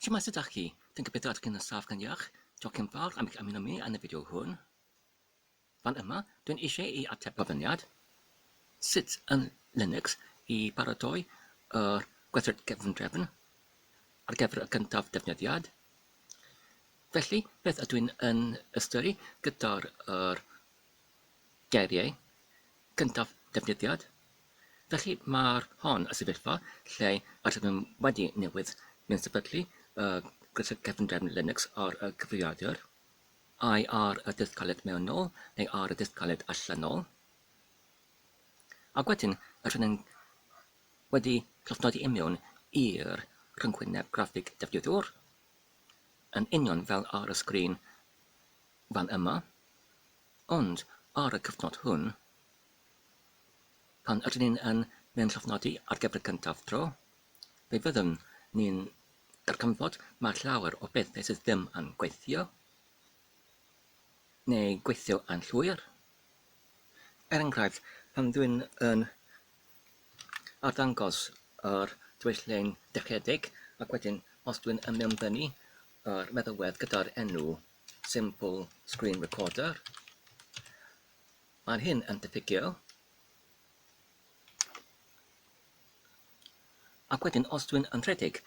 Shwmae sut dach chi? Dwi'n gobeithio ydych chi'n saff gan iach. Diolch yn fawr am eich ymuno mi yn y fideo hwn. Fan yma, dwi'n eisiau i ateb gofyniad sut yn Linux i baratoi yr gweithred gefndrefn ar gyfer y gyntaf defnyddiad. Felly, beth ydw i'n yn ystyru gyda'r yr geiriau cyntaf defnyddiad, felly mae'r hon y sefyllfa lle yr ydym yn wedi newid neu'n sefydlu y gwersyll cefndrefn Linux ar y cyfrifiadur, ai ar y disg caled mewnol neu ar y disg caled allanol, ac wedyn yr hyn yn wedi llofnodi imiwn i'r rhyngwyneb graffig defnyddiwr, yn union fel ar y sgrin fan yma, ond ar y cyfnod hwn, pan ydyn ni yn ein llofnodi ar gyfer y cyntaf tro, fe fyddwn ni'n darganfod mae llawer o bethau sydd ddim yn gweithio, neu gweithio yn llwyr. Er enghraifft, pan dwi'n yn arddangos yr dwyslein dechedig, ac wedyn os dwi'n yn mewnfynnu yr meddalwedd gyda'r enw simple screen recorder. Mae'n hyn yn diffygio. Ac wedyn, os dwi'n yn rhedeg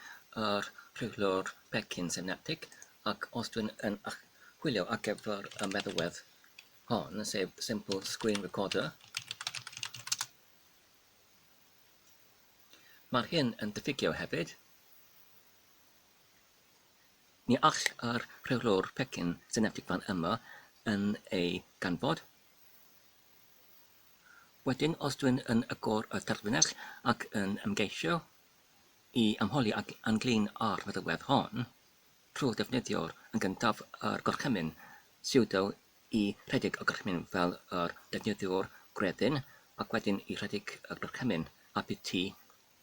yr rheolwr pecyn synaptig, ac os dwi'n yn chwilio ar gyfer y meddalwedd hon, sef simple screen recorder, Mae'r hyn yn diffygio hefyd. Ni all yr rheolwr pecyn syneptig fan yma yn ei ganfod. Wedyn, os dwi'n yn agor y terfynell ac yn ymgeisio i ymholi ag Ann-Glyn ar feddygfedd hon, trwy ddefnyddio'r yn gyntaf yr gorchymyn sudo i rhedeg y gorchymyn fel yr defnyddiwr gwreddyn ac wedyn i rhedeg y gorchymyn apt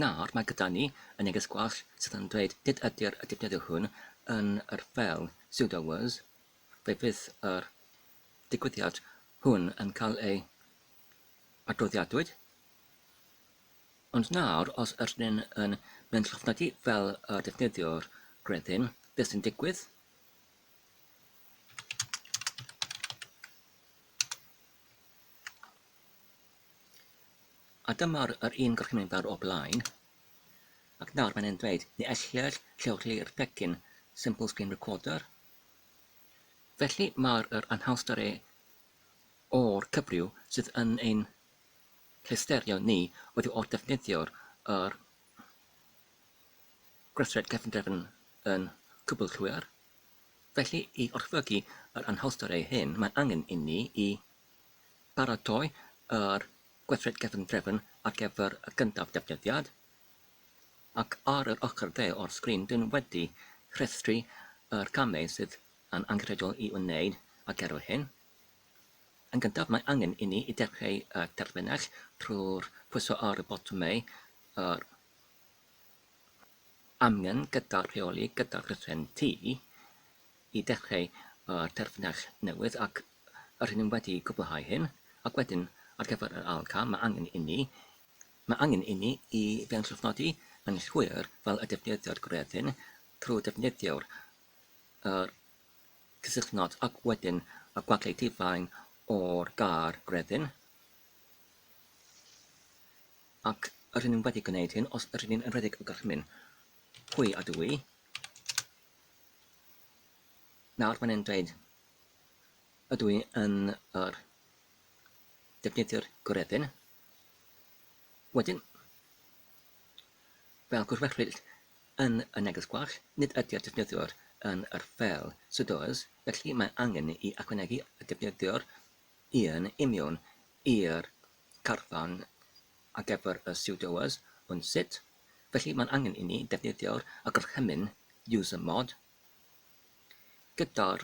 Nawr mae gyda ni y neges gwallt sydd yn dweud nid ydy'r y defnyddio hwn yn yr fel sudo was, fe fydd yr digwyddiad hwn yn cael ei adroddiadwyd. Ond nawr, os ydyn ni'n yn mynd llofnodi fel y defnyddiwr gredyn, beth sy'n digwydd? A dyma'r yr un gorchymyn fel o blaen. Ac nawr mae'n e'n dweud, ni ellir lleoli'r pecyn Simple Screen Recorder. Felly mae'r yr anhawster e o'r cyfryw sydd yn ein llesterio ni wedi o'r defnyddio'r yr gweithred cefndrefn yn cwbl llwyr. Felly i orchfygu yr anhawster e hyn mae'n angen inni i Paratoi yr gweithred cefndrefn ar gyfer y gyntaf defnyddiad, ac ar yr ochr dde o'r sgrin dyn wedi rhestru yr camau sydd yn angenrheidiol i'w wneud ar gyfer hyn. Yn gyntaf mae angen inni i dechreu y terfynell trwy'r pwyso ar y botymau yr amgen gyda rheoli gyda rheswm T i dechreu y terfynell newydd ac Rŷn ni wedi cwblhau hyn, ac wedyn, ar gyfer yr ail cam, mae angen inni, mae angen inni i benllyfnodi yn llwyr fel y defnyddiwyd gwrthyn trwy ddefnyddio'r yr cysylltnod ac wedyn y gwagle difain o'r gair gwrthyn, ac rŷn ni wedi gwneud hyn os rŷn ni'n rhedeg y gorchmyn. Pwy a dw i? Nawr mae'n e'n dweud Ydw i yn yr defnyddio'r gwredden. Wedyn, fel gwrthfechryd yn y neges gwall, nid ydy'r defnyddiwr yn yr fel sydd oes, felly mae angen i ychwanegu y defnyddiwr yn union i'r carfan ar gyfer y sydd oes, ond sut? Felly mae'n angen i ni ddefnyddio'r gorchymyn usermod Gyda'r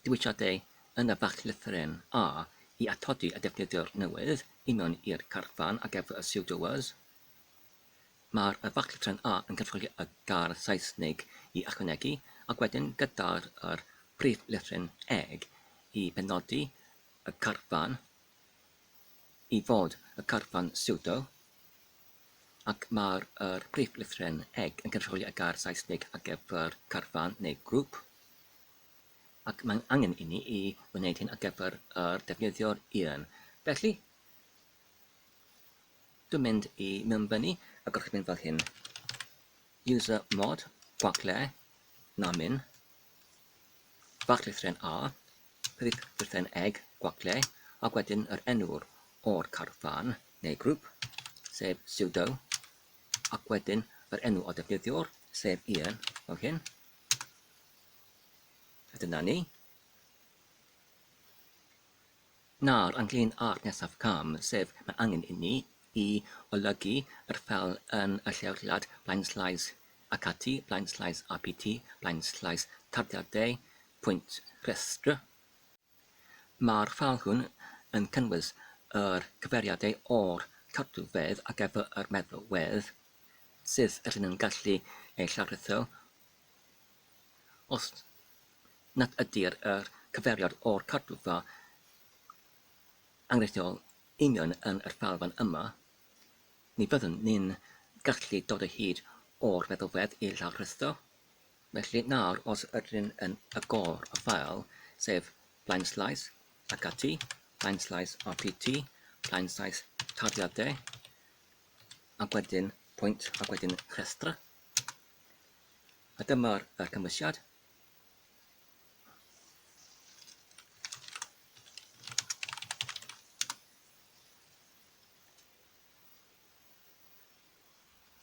diwygiadau yn y fachllythyren A i atodi y defnyddiwr newydd union i'r carfan ar gyfer y pseudoers, mae'r fachllythyren A yn cynrychioli y gair Saesneg i ychwanegu, ac wedyn gyda'r priflythyren Eg i benodi y carfan i fod y carfan pseudo. ac mae'r yr prif lythren eg yn cynrychioli y gair Saesneg ar gyfer carfan neu grŵp, ac mae'n angen inni i wneud hyn ar gyfer yr defnyddio'r un. Felly, dwi'n mynd i mewnbynnu y gorchymyn fel hyn. User mod, Barclay, na min. Barclaythren A, prif berchen eg Barclay, ac wedyn yr enw'r o'r carfan neu grŵp, sef sudo, ac wedyn yr enw o defnyddiwr, sef Ian, fel hyn. A dyna ni. Nawr, ynglŷn â'r nesaf cam, sef mae angen inni i olygu yr fel yn y lleoliad, blaenslais, ac ati, blaenslais APT, blaenslais tarddiadau pwynt rhestr. Mae'r fel hwn yn cynnwys yr cyfeiriadau o'r tarddiwedd ar gyfer yr meddalwedd, sydd yr hyn yn gallu ei llawrytho Os nad ydy'r cyfeiriad o'r cartrefa enghreifftiol union yn yr ffael fan yma, ni fyddwn ni'n gallu dod o hyd o'r feddalwedd i law'r rhestr. Felly, nawr, os ydyn yn agor y ffael, sef blaenslais ac ati, blaenslais rpt, blaenslais tarddiadau, ac wedyn pwynt ac wedyn rhestr, A dyma'r ddarcymhelliad.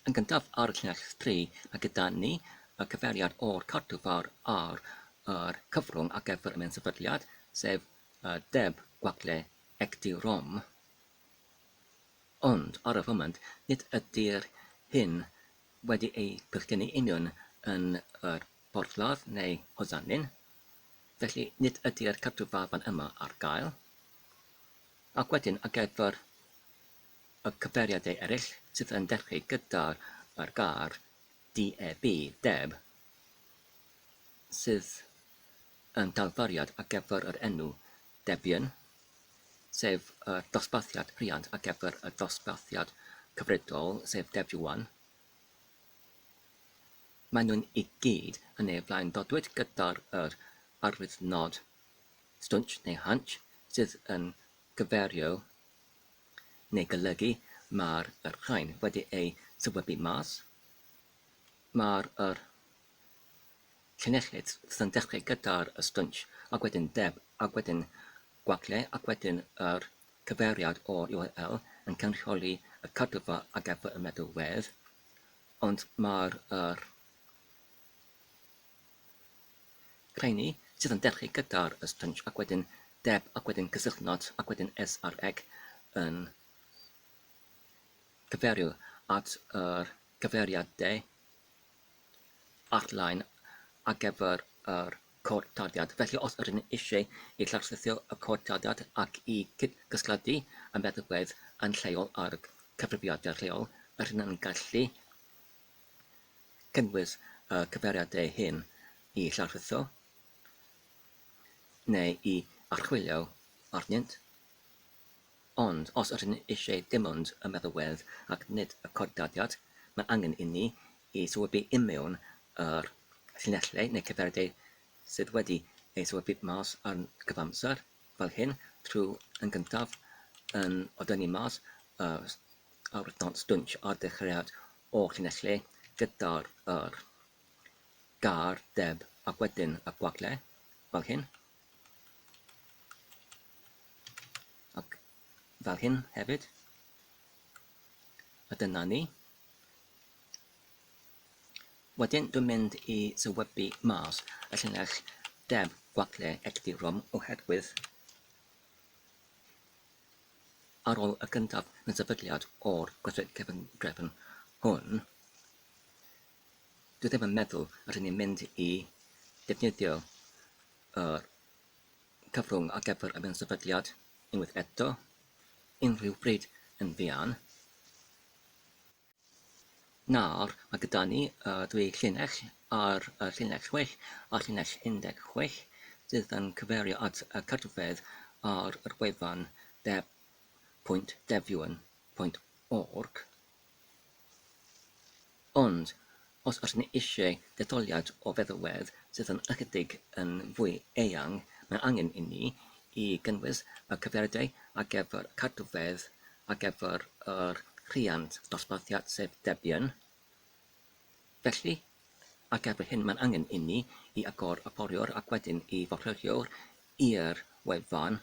Yn gyntaf ar y llinell 3, mae gyda ni y cyfeiriad o'r cadw fawr ar yr cyfrwng ar gyfer y mensefydliad, sef y deb gwagle Ecdi-Rom. Ond, ar y foment, nid ydy'r hyn wedi eu pecynnu union yn yr Porthladd neu Hozannin, felly nid ydy'r cadw baban yma ar gael. Ac wedyn ar gyfer y cyfeiriadau eraill sydd yn dechreu gyda'r yr gair DEB, Deb, sydd yn dalfariad ar gyfer yr enw Debian, sef y dosbarthiad rhiant ar gyfer y dosbarthiad cyfredol, sef Debian. Maen nhw'n i gyd yn ei flaen ddodwyd gyda'r yr arwyddnod stwnsh neu hunch sydd yn cyferio neu golygu mae'r yr rhain wedi eu sywybu mas. Mae'r yr Llinellid sy'n dechrau gyda'r stwnsh ac wedyn deb ac wedyn gwagle ac wedyn yr cyfeiriad o url yn cynrychioli y cadwfa a gefnfa y meddalwedd ond mae'r yr rheiny sydd yn dechrau gyda'r stwnsh ac wedyn deb ac wedyn cysylltnod ac wedyn sreg yn cyfeirio at yr cyfeiriad de ar-lein ar gyfer yr cod tarddiad. Felly, os ydyn ni eisiau i llawrlwytho y cod tarddiad ac i gyd-gysylltu y meddygfeydd yn lleol â'r cyfrifiadur lleol, rydyn ni'n gallu cynnwys y cyfeiriadau hyn i llawrlwytho neu i archwilio arnynt. Ond os ydyn ni eisiau dim ond y meddalwedd ac nid y corddaliad, mae angen inni ei sylwebu i mewn i'r llinellau neu gyfeiriadau sydd wedi eu sylwebu mas ar gyfamser, fel hyn, trwy yn gyntaf yn ordynnu mas yr arwyddnod stwnsh ar ddechreuad o'r llinellau gyda'r yr, gair, deb ac wedyn y gwagle, fel hyn. Ac fel hyn hefyd. A dyna ni. Wedyn dwi'n mynd i sywebu mas y llinell deb gwacle egdirom oherwydd ar ôl y gyntaf yn sefydliad o'r gweithred cefn drefn hwn Dwi ddim yn meddwl rydyn ni'n mynd i ddefnyddio y cyfrwng ar gyfer y minsefydliad unwaith eto, unrhyw bryd yn fuan. Nawr, mae gyda ni y dwy llinell ar y llinell 6 a'r llinell 16 sydd yn cyferio at y cartref ar yr wefan de.devion.org. Ond, os ydyn ni eisiau detholiad o feddalwedd sydd yn ychydig yn fwy eang, mae angen inni i gynnwys y cyfeiriadau ar gyfer y cadwfeydd ar gyfer yr rhiant dosbarthiad sef Debian. Felly, ar gyfer hyn mae angen inni i agor y poriwr ac wedyn i forwrio'r i'r wefan.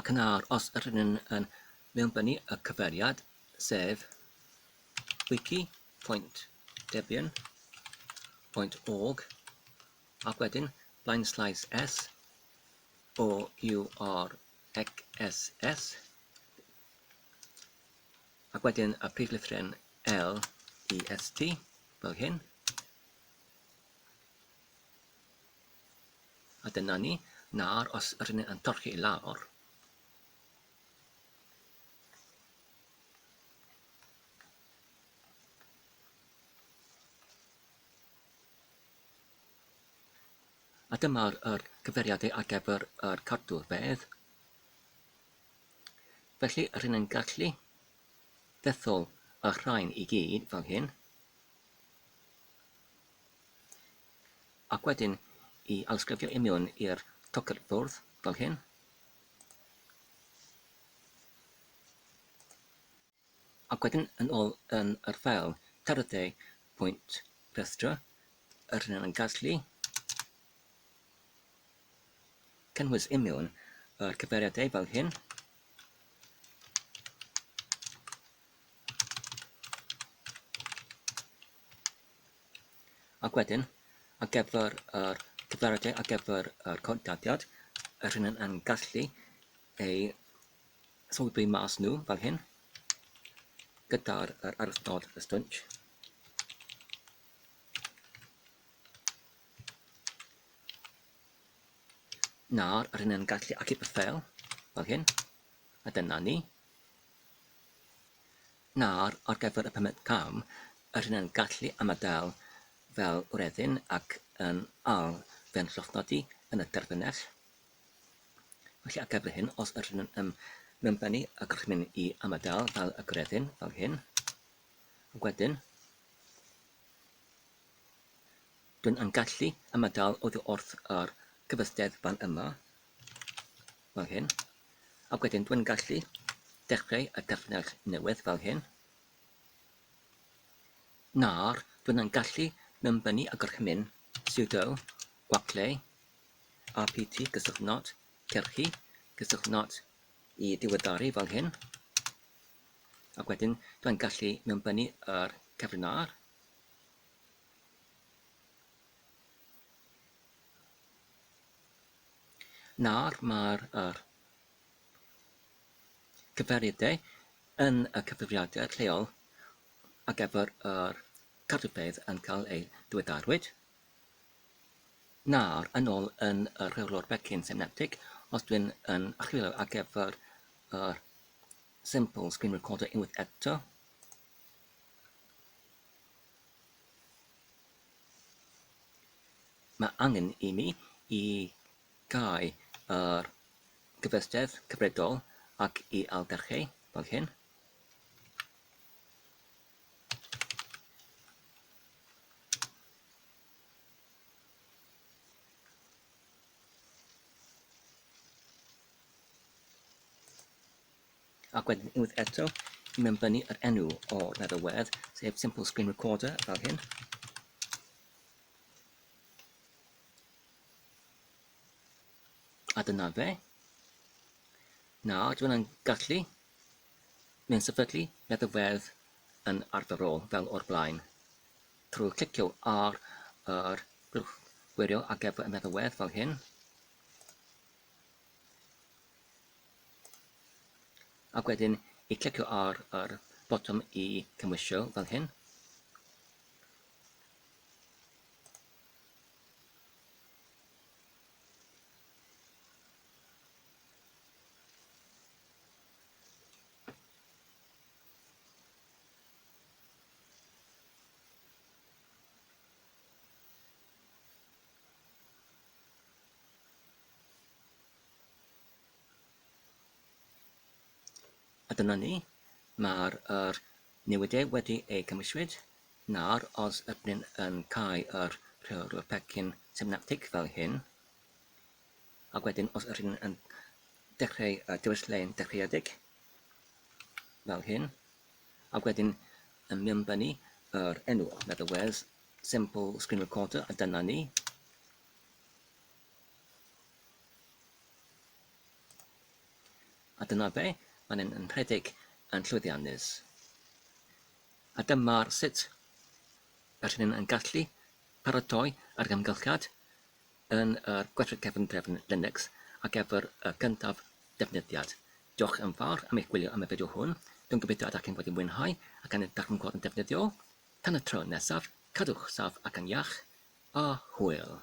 Ac yn awr, os ydyn ni yn mewnbynnu y cyfeiriad, sef wiki.debian.org, ac wedyn blaenslaes s, o, u, r, ec, s, s, ac wedyn y prif lythryn L, E, S, T, fel hyn, A dyna ni, nawr os r'yn ni yn torchi i lawr, a dyma'r yr cyfeiriadau ar gyfer yr cadw'r bedd. Felly, rhywun yn gallu dethol y rhain i gyd fel hyn. Ac wedyn i alsgrifio i mewn i'r tocyn bwrdd fel hyn. Ac wedyn yn ôl yn yr ffeil tarddiau pwynt rhestr, yr hyn yn gallu cynnwys i mewn yr cyfeiriadau fel hyn. Ac wedyn, ar gyfer yr cyfarwyddyd, ar gyfer yr contactiad, yr hyn yn, yn gallu ei sylwi mas nhw fel hyn, gyda'r yr aruthnod y stwnt. Nawr, yr hyn yn gallu achub y ffeil fel hyn, a dyna ni. Nawr, ar gyfer y pumed cam, yr hyn yn gallu ymadael fel wreddyn ac yn ail fe'n llofnodi yn y derfynell. Felly ar gyfer hyn, os yr hyn yn ym mewnbennu y gorchmyn i ymadael fel y gwreddyn, fel hyn, ac wedyn, dwi'n yn gallu ymadael oddi wrth yr gyfystedd fan yma, fel hyn, ac wedyn dwi'n gallu dechrau y defnydd newydd fel hyn, nawr dwi'n yn gallu mewnbynnu y gorchymyn sudo gwacleu rpt gysylltnod cyrchu cysylltnod i ddiweddaru fel hyn, ac wedyn dwi'n gallu mewnbynnu yr cyfrinair, Nawr mae'r yr cyfarwyddai yn y cyfrifiadur lleol ar gyfer yr cardiopeidd yn cael eu diweddarwyd nawr yn ôl yn y rheolwr pecyn synaptig os dwi'n yn archwilio ar gyfer yr simple screen recorder unwaith eto. Mae angen i mi i gau yr gyfystyr cyfredol ac i ailgyrchu fel hyn. Ac wedyn unwaith eto, i mewnbynnu yr enw o'r feddw wedd, sef Simple Screen Recorder, fel hyn. A dyna fe. Nawr, dwi'n gallu mynd sefydlu meddywedd yn arferol fel o'r blaen. Trwy clicio ar yr grwch gwirio ar gyfer y meddywedd fel hyn. Ac wedyn i clicio ar yr botwm i cymwysio fel hyn. A dyna ni, mae'r yr newyddiau wedi eu cymwyswyd. Nawr, os ydyn ni'n yn cael yr rheolwr pecyn synaptig fel hyn, ac wedyn os ydyn ni'n yn dechrau y diwylliau'n dechreuedig fel hyn, ac wedyn yn mynbynnu yr enw, in other words, simple screen recorder, a dyna ni. A dyna fe, mae'n yn, yn rhedeg yn llwyddiannus. A dyma sut y rhydyn yn gallu paratoi ar gymgylchiad yn yr gweithred cefn drefn Linux a gefr y gyntaf defnyddiad. Diolch yn fawr am eich gwylio am y fideo hwn. Dwi'n gobeithio ydych chi'n wedi mwynhau ac yn edrych yn gweld yn defnyddiol. Tan y tro nesaf, cadwch saff ac yn iach, a hwyl!